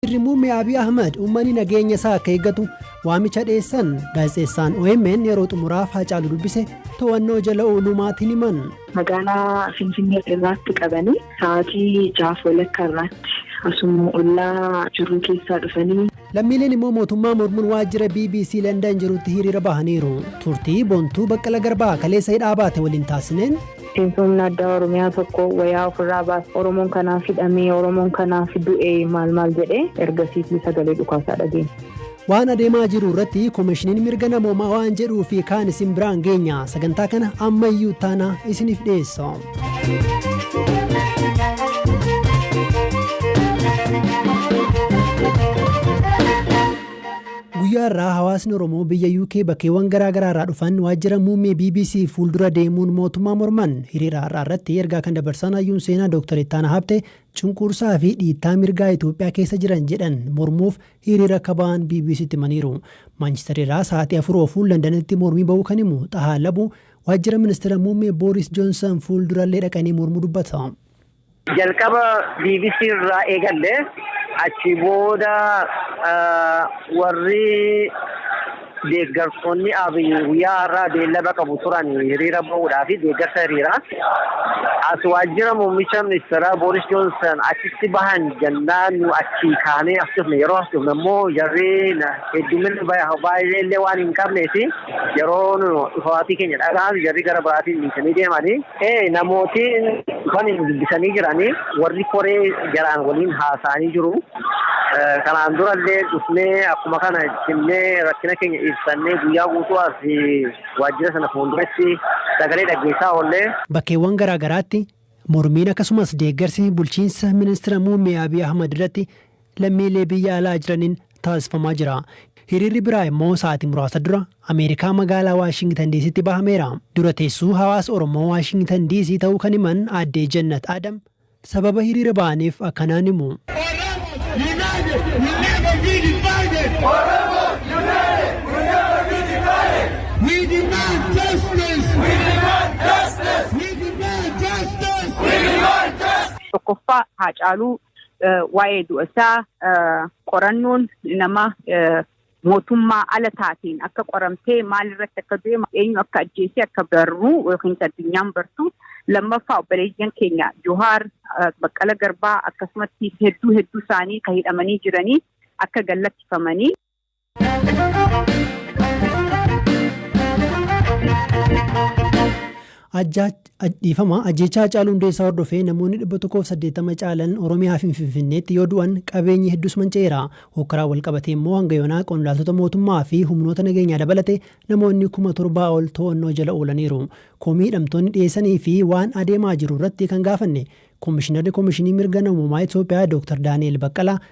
Ministirri Muummee Abiy Ahmad uummanni nageenya isaa akka eeggatu waamicha dhiyeessan gaazexeessaan OMN yeroo xumuraaf Haacaaluu dubbise to'annoo jala ooluu maatiin himan. Magaalaa Finfinnee irraatti qabanii sa'aatii jaaf walakkaa irraatti asuma ollaa jirru keessaa dhufanii. Lammiileen immoo mootummaa mormuun waajjira BBC London jirutti hiriira bahaniiru. Turtii Bontuu Baqqala Garbaa kaleessa hidhaa baate waliin taasisneen Miseensomni addaa Oromiyaa tokko wayaa ofirraa baas Oromoon kanaaf hidhamee, Oromoon kanaaf du'e maal maal jedhee ergasiitii sagalee dhukaasaa dhageenya. Waan adeemaa jiru irratti Komishiniin Mirga Namoomaa waan jedhuu fi kaan isin biraan geenya. Sagantaa kana ammayyuu taana isiniif dhiyeessa. Guyyaa har'aa hawaasni Oromoo biyya UK bakkeewwan garaa garaa irraa dhufan waajjira muummee bbc fuuldura deemuun mootummaa morman. Hiriira har'aa irratti ergaa kan dabarsan hayyuun seenaa Dooktar Ittaanaa Habtee cunqursaa fi dhiittaa mirgaa Itoophiyaa keessa jiran jedhan mormuuf hiriira akka ba'an BBCtti himaniiru. Maanchister irraa sa'aatii 4 ofuun Landanitti mormii ba'uu kan himu Xahaa Labuu waajjira ministira muummee Booris Joonsan fuuldurallee dhaqanii mormuu dubbata. Jalqaba bbc irraa eegalle achi booda warri deeggartoonni Abiy guyyaa har'aa beellama qabu turan hiriira ba'uudhaa fi deeggarsa hiriiraa as waajjira muummicha ministeeraa Booris Joonsan achitti bahan jennaan nu achii kaanee as dhufne yeroo as dhufne immoo jarri hedduminni baay'ee illee waan hin qabnee fi yeroo nu dhufaatii keenya dhaga'an jarri gara biraatiin dhiisanii deemanii Ee namooti dhufanii nu dubbisanii jiranii warri koree jaraan waliin haasa'anii jiru. Kanaan durallee dhufnee akkuma kana jennee rakkina keenya ibsannee guyyaa guutuu as waajjira sana fuulduratti sagalee dhaggeessaa oollee. Bakkeewwan garaa garaatti mormiin akkasumas deeggarsi bulchiinsa ministira muummee Abiy Ahmad irratti lammiilee biyya alaa jiraniin taasifamaa jira. Hiriirri biraa immoo sa'aatii muraasa dura Ameerikaa magaalaa Waashingitan Diisiitti bahameera. Dura teessuu hawaasa Oromoo Waashingitan Diisii ta'uu kan himan Aaddee Jannat Adam sababa hiriira bahaniif akkanaan himu. Tokkoffaa Haacaaluu waa'ee du'a isaa qorannoon nama mootummaa ala taateen akka qoramtee maal irratti akka du'e eenyu akka ajjeesee akka barruu yookiin addunyaan bartu lammaffaa obboleeyyan keenya Johaar Baqqala Garbaa akkasumatti hedduu hedduu isaanii kan hidhamanii jiranii akka gallakkifamanii. Dhiifama ajjeechaa Hacaaluu Hundeessaa hordofee namoonni 180 caalan Oromiyaa fi Finfinneetti yoo du'an qabeenyi hedduus manca'eera. Hookkaraan wal qabatee immoo hanga yoonaa qondaaltota mootummaa fi humnoota nageenyaa dabalate namoonni kuma torbaa ol to'annoo jala oolaniiru. Komii hidhamtoonni dhiyeessanii fi waan adeemaa jiru irratti kan gaafanne Komishinarri Komishinii Mirga Namoomaa Itoophiyaa Dr. Daani'el Baqqalaa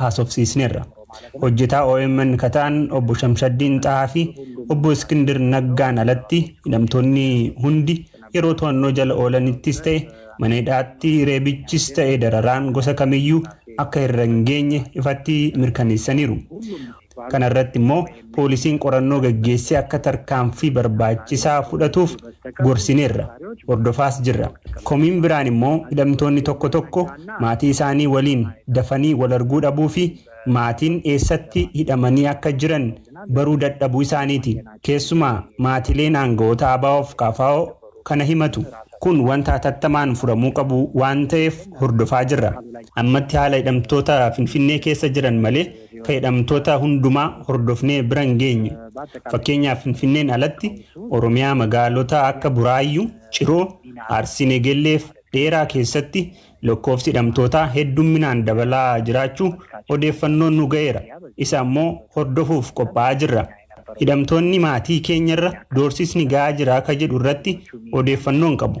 haasofsiisneerra. Hojjetaa omn ka ta'an Obbo Shamshaddiin Xahaa fi Obbo Iskindir Naggaan alatti hidhamtoonni hundi yeroo to'annoo jala oolanittis ta'e mana hidhaatti reebichis ta'e dararaan gosa kamiyyuu akka irra hin geenye ifatti mirkaneessaniiru. Kana irratti immoo poolisiin qorannoo gaggeessee akka tarkaanfii barbaachisaa fudhatuuf gorsineerra, hordofaas jirra. Komiin biraan immoo hidhamtoonni tokko tokko maatii isaanii waliin dafanii wal arguu dhabuu fi maatiin eessatti hidhamanii akka jiran baruu dadhabuu isaaniiti. Keessumaa maatileen aanga'oota ABO fi kfo kana himatu. Kun wanta hatattamaan furamuu qabu waan ta'eef hordofaa jirra. Ammatti haala hidhamtoota Finfinnee keessa jiran malee fayyadamtoota hundumaa hordofnee bira hin geenye. Fakkeenyaaf Finfinneen alatti Oromiyaa magaalota akka Buraayyuu, Ciroo, Arsii Negelleef Dheeraa keessatti lakkoofsi hidhamtootaa heddumminaan dabalaa jiraachuu odeeffannoon nu ga'eera. Isa ammoo hordofuuf qophaa'aa jirra. Hidhamtoonni maatii keenyarra doorsisni ga'aa jira ka jedhu irratti odeeffannoo hin qabu.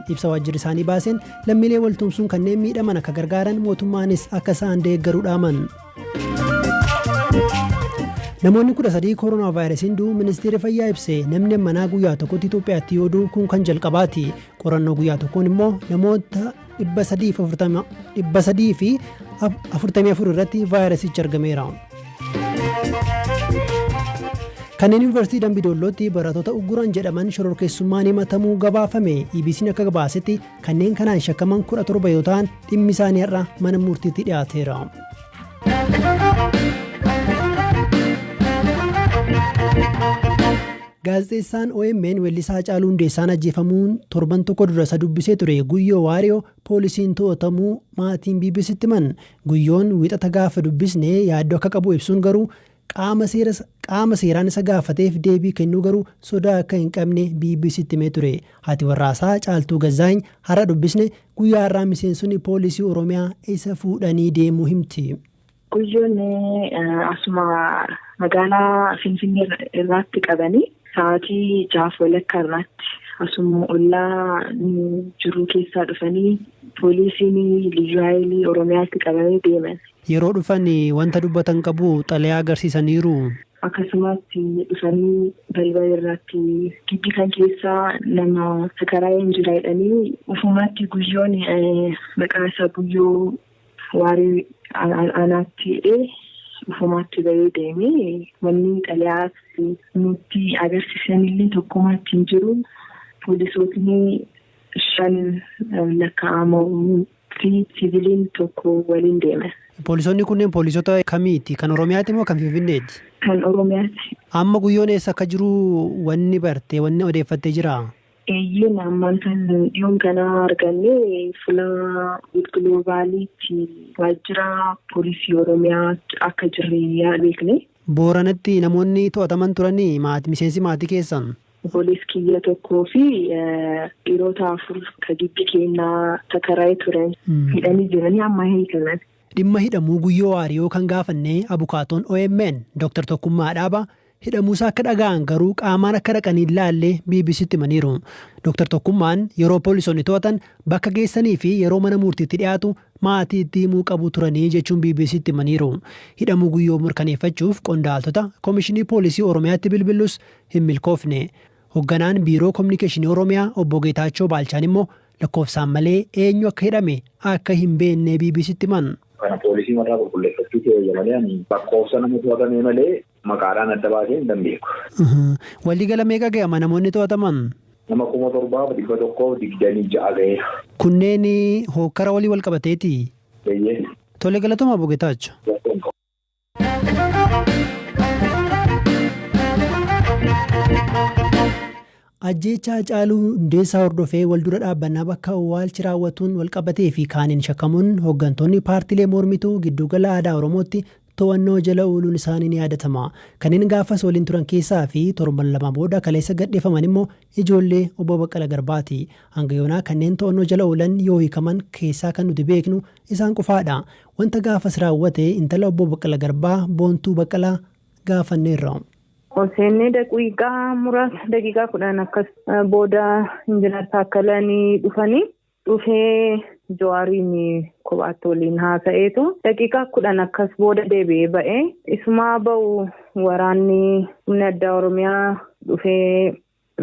Ibsa waajjirri isaanii baaseen lammiilee wal tumsuun kanneen miidhaman akka gargaaran mootummaanis akka isaan deeggaru dhaaman. Namoonni 13 koronaa vaayirasiin du'u ministeerri fayyaa ibse namni manaa guyyaa tokkotti Itoophiyaatti yoo du'u kun kan jalqabaati. Qorannoo guyyaa tokkoon immoo namoota 344 irratti vaayirasichi argameera. Kanneen Yuunivarsiitii Dambi Doollootti barattoota ugguran jedhaman shororkeessummaan himatamuu gabaafame. EBC'n akka gabaasetti kanneen kanaan shakkaman 17 yoo ta'an dhimmi isaanii har'a mana murtiitti dhiyaateera. Gaazexeessaan OMN Weellisaa Haacaaluu Hundeessaan ajjeefamuun torban tokko dura isa dubbisee ture Guyyoo Waariyoo poolisiin to'atamuu maatiin BBC'tti himan. Guyyoon Wiixata gaafa dubbisne yaaddoo akka qabu ibsuun garuu qaama seera qaama seeraan isa gaafateef deebii kennuu garuu sodaa akka hin qabne BBC'tti himee ture. Haati warraasaa Caaltuu Gazzaany har'a dubbisne guyyaa har'aa miseensonni poolisii Oromiyaa isa fuudhanii deemuu himti. Guyyoon asuma magaalaa Finfinnee irraatti qabanii sa'aatii jaaf walakkaa irraatti asuma ollaa jiruu keessaa dhufanii poolisiin liyyuu haayilii Oromiyaatti qabanii deeman. Yeroo dhufan wanta dubbatan qabu xalayaa agarsiisaniiru. Akkasumas dhufanii balbala irraatti gibbii kan keessaa nama sakaraayeen jira jedhanii ufumaatti guyyoon maqaa isaa guyyoo Waarii anaatti hidhee ufumaatti ba'ee deeme. Wanni xalayaa nutti agarsiisanillee tokkomaa achi hin jiru. Poolisootni shan lakkaa'amu fi siviiliin tokko waliin deeman. Poolisoonni kunneen poolisoota kamiiti? Kan Oromiyaati moo kan Finfinneeti? Kan Oromiyaati. Amma Guyyoon eessa akka jiru wanni barte, wanni odeeffatte jiraa? Eeyyeen ammaan tan dhiyoon kana arganne fula gilgiloobaaliitti waajjira poolisii oromiyaa akka jirre yaa beekne. Booranatti namoonni to'ataman turani maati miseensi maatii keessan? Oboleessi kiyya tokkoo fi dhiroota afur ka gibbi keenna takaraye turan. Hidhanii jiranii amma hiikaman. Dhimma hidhamuu Guyyoo Waariyoo kan gaafanne abukaatoon omn Dr. Tokkummaa Dhaabaa Hidhamuusaa akka dhaga'an garuu qaamaan akka dhaqan hin laalle BBC'tti himaniiru. Doktar Tokkummaan yeroo poolisoonni to'atan bakka geessanii fi yeroo mana muurtiitti dhiyaatu maatiitti himuu qabu turanii jechuun BBC'tti himaniiru. Hidhamuu Guyyoo mirkaneeffachuuf qondaaltota Komishinii Poolisii Oromiyaatti bilbillus hin milkoofne. Hogganaan Biiroo Kominikeeshinii Oromiyaa Obbo Geetaachoo Baalchaan immoo lakkoofsaan malee eenyu akka hidhame akka hin beekne BBC'tti himan. Kana poolisiin warraa qulqulleeffachuutu eeyyama jedhan. Lakkoofsa nama to'atamee malee Maqaadhaan adda baasee hin beeku. Waliigala meeqa ga'ama namoonni to'ataman? Nama kuma torbaaf dhibba tokkoof digdamii ja'a ga'eera. Kunneen hookkara waliin walqabateetii? Eeyyee. Tole galatoomaa Obbo Getaacho. Rakkoon qabu. Ajjeechaa Hacaaluu Hundeessaa hordofee waldura dhaabbannaa bakka owwaalchi raawwatuun walqabatee fi kaaniin shakkamuun hoggantoonni paartilee mormituu Gidduugala Aadaa Oromootti to'annoo jala ooluun isaanii ni yaadatama. Kanneen gaafas waliin turan keessaa fi torban lama booda kaleessa gadhiifaman immoo ijoollee Obbo Baqqala Garbaati. Hanga yoonaa kanneen to'annoo jala oolan yoo hiikaman keessaa kan nuti beeknu isaan qofaadha. Wanta gaafas raawwate intala Obbo Baqqala Garbaa Boontuu Baqqalaa gaafanneerra. Ol seennee daqiiqaa muraasa daqiiqaa kudhan akkas booda injinar Taakkalanii dhufanii dhufee Jawaariin kophaatti waliin haasa'eetu daqiiqaa kudhan akkas booda deebi'ee ba'ee isumaa ba'u waraanni humni addaa Oromiyaa dhufee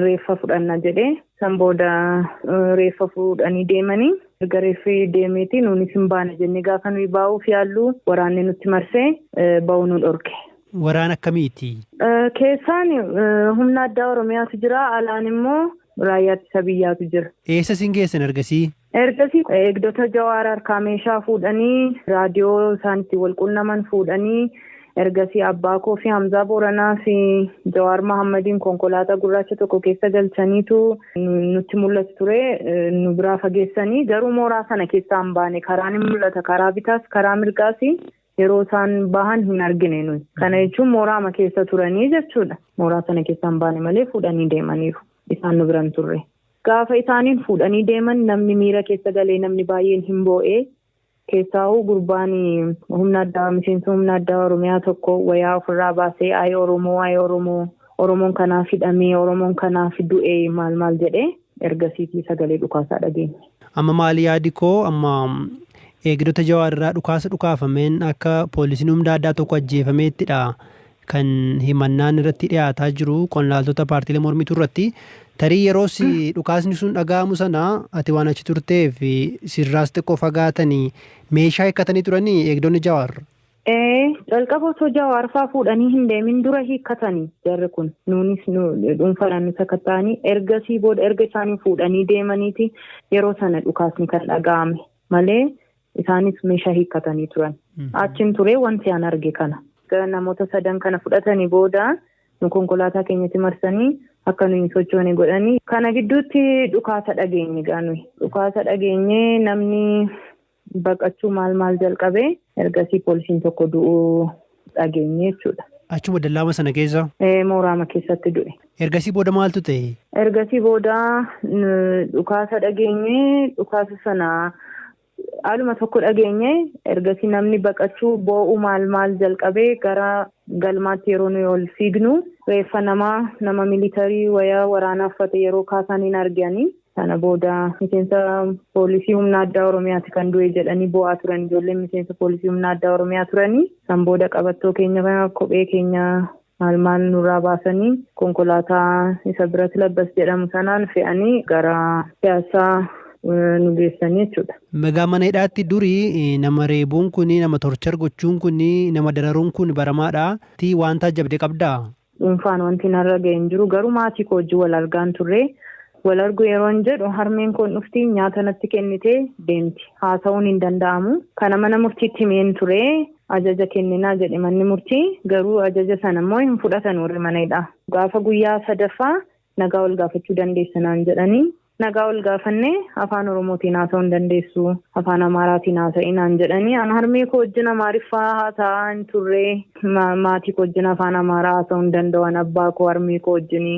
reeffa fudhanna jedhe. San booda reeffa fuudhanii deemanii erga reeffi deemeeti nuunis hin baana jennee gaafa nuyi baa'uuf yaallu waraanni nutti marsee ba'uu nu dhorke. Waraana akkamiiti? Keessaan humna addaa Oromiyaatu jira, alaan immoo raayyaa ittisa biyyaatu jira. Eessa isin geessan ergasii? Ergasii eegdota Jawaar harkaa meeshaa fuudhanii raadiyoo isaan itti wal qunnaman fuudhanii ergasii abbaa koo fi Hamzaa Booranaa fi Jawaar Mahaammadiin konkolaataa gurraacha tokko keessa galchaniitu nutti mul'atu ture nu biraa fageessanii garuu mooraa sana keessaa hin baane karaa ni mul'ata karaa bitaas karaa mirgaas yeroo isaan bahan hin argine nuyi kana jechuun mooraama keessa turanii jechuudha mooraa sana keessaa hin baane malee fuudhanii deemaniiru isaan nu biran turre. Gaafa isaaniin fuudhanii deeman namni miira keessa galee namni baay'een hin boo'e. Keessaahuu gurbaan humna addaa miseensa humna addaa Oromiyaa tokko wayaa ofirraa baasee ayi Oromoo ayi Oromoo Oromoon kanaaf hidhamee Oromoon kanaaf du'e maal maal jedhe ergasiitii sagalee dhukaasaa dhageenye. Amma maali yaadi koo amma eegdota Jawaar irraa dhukaasa dhukaafameen akka poolisiin humna addaa tokko ajjeefameettidha kan himannaan irratti dhiyaataa jiru qonnaaltota paartiilee mormituu irratti tarii yeroos dhukaasni sun dhaga'amu sana ati waan achi turteef sirraas xiqqoo fagaatanii meeshaa hiikkatanii turanii eegdonni jawaar. Ee calqaba osoo jawaar faa fuudhanii hin deemin dura hiikkatanii jarri kun nuunis dhuunfaadhaan nu sakatta'anii ergasii booda erga isaanii fuudhanii deemaniiti yeroo sana dhukaasni kan dhaga'ame malee Isaanis meeshaa hiikkatanii turan. Achiin turee wanti an arge kana. Namoota sadan kana fudhatanii booda nu konkolaataa keenyatti marsanii akka nuyi hin sochoone godhanii. Kana gidduutti dhukaasa dhageenye gaa nuyi. Dhukaasa dhageenye namni baqachuu maal maal jalqabe. Ergasii poolisiin tokko du'uu dhageenye jechuudha. Achuma dallaama sana keessa? Ee, mooraama keessatti du'e. Ergasii booda maaltu ta'e? Ergasii booda n- dhukaasa dhageenye, dhukaasa sana haaluma tokko dhageenye, ergasii namni baqachuu boo'u maal maal jalqabee gara galmaatti yeroo nuyi ol fiignu reeffa namaa nama militarii wayaa waraanaa uffate yeroo kaasaan hin arganii. Sana booda miseensa poolisii humna addaa Oromiyaati kan du'e jedhanii boo'aa turan ijoolleen miseensa poolisii humna addaa Oromiyaa turanii san booda qabattoo keenya kophee keenya maal maal nurraa baasanii konkolaataa isa birat labbas jedhamu sanaan fe'anii gara piyaassaa nu geessanii jechuudha. Megaa mana hidhaatti duri nama reebuun kun nama torchar gochuun kun nama dararuun kun baramaadha. Tii waan taajjabde qabdaa? Dhuunfaan wanti narra gahe hin jiru. Garuu maatii koo wajjin wal argaan turre. Wal argu yeroon jedhu harmeen koo dhufti, nyaata natti kennitee deemti. Haasa'uun hin danda'amu. Kana mana murtiitti himeen ture. Ajaja kenninaa jedhe manni murtii. Garuu ajaja sana immoo hin fudhatan warri mana hidhaa. Gaafa guyyaa sadaffaa nagaa wal gaafachuu dandeessa naan jedhani. Nagaa wal gaafanne afaan Oromootiin haasa'uu hin dandeessu, afaan Amaaraatiin haasa'i naan jedhani. An harmee koo wajjin Amaariffaa haasa'aa hin turre. Maatii koo wajjin afaan Amaaraa haasa'uu hin danda'u an abbaa koo harmee koo wajjin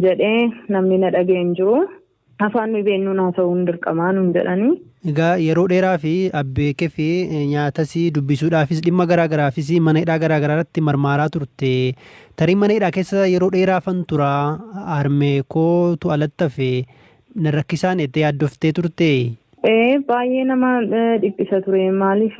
jedhee namni na dhaga'e hin jiru. Afaan nuyi beennuun haasa'uun dirqamaa nuun jedhani. Egaa yeroo dheeraa fi abbee kee fi nyaatas dubbisuudhaafis dhimma garaa garaafis mana hidhaa garaa garaa irratti marmaaraa turte. Tarii mana hidhaa keessa yeroo dheeraafan tura, harmee koo tu alatti hafe, na rakkisaani jettee yaaddoftee turtee? Ee, baay'ee nama dhiphisa ture. Maaliif?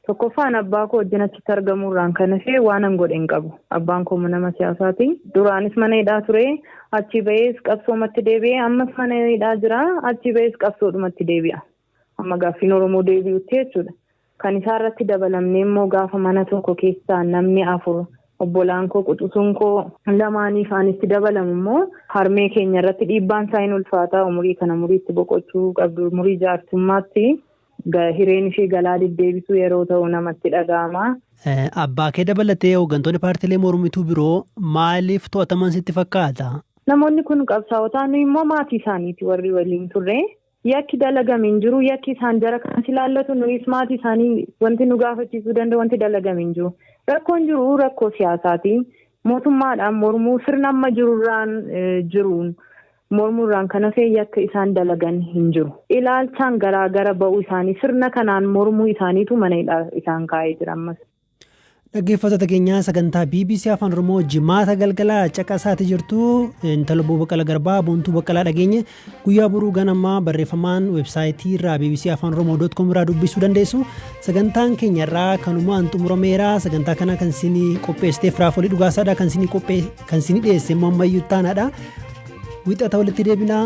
Tokkoffaa an abbaa koo wajjin achitti argamuu irraan kan hafe waanan godhe hin qabu. Abbaan koo nama siyaasaa ti. Duraanis mana hidhaa ture. Achii ba'ees qabsoomatti deebi'e. Ammas mana hidhaa jira. Achii ba'ees qabsoodhumatti deebi'a. Hamma gaaffiin Oromoo deebi'utti jechuudha. Kan isaa irratti dabalamnee immoo gaafa mana tokko keessaa namni afur obbolaan koo quxusuun koo lamaanii faan itti dabalamu immoo harmee keenya irratti dhiibbaan isaa hin ulfaataa umurii kana umurii itti boqochuu qabdu umurii jaarsummaatti hireen ishee galaa deddeebisuu yeroo ta'u namatti dhaga'ama. Abbaa kee dabalatee hooggantoonni paartiilee mormituu biroo maaliif to'ataman sitti fakkaata? Namoonni kun qabsaa'otaa nuyi immoo maatii isaaniiti warri waliin turre. Yakki dalagame hin jiru. Yakki isaan jara kanas ilaallatu nuyis maatii isaanii wanti nu gaafachiisuu danda'u wanti dalagame hin jiru. Rakkoon jiru rakkoo siyaasaati. Mootummaadhaan mormuu sirna amma jirurraan jiruun mormuurraan kan hafee yakka isaan dalagan hin jiru. Ilaalchaan garaa gara ba'uu isaanii sirna kanaan mormuu isaaniitu mana hidhaa isaan kaa'ee jira ammas. Dhaggeeffattoota keenyaa sagantaa BBC Afaan Oromoo jimaata galgala caqasaati jirtu intala Obbo Baqqala Garbaa Boontuu Baqqalaa dhageenye guyyaa boruu ganamaa barreeffamaan websaayitii irraa BBC Afaan Oromoo dot com irraa dubbisuu dandeessu sagantaan keenya irraa kanumaan xumurameera sagantaa kana kan isinii qopheessiteef raafolii dhugaasaadha kan isinii qophee kan isinii dhiyeesse immoo ammayyuu taanaadha wixata walitti deebinaa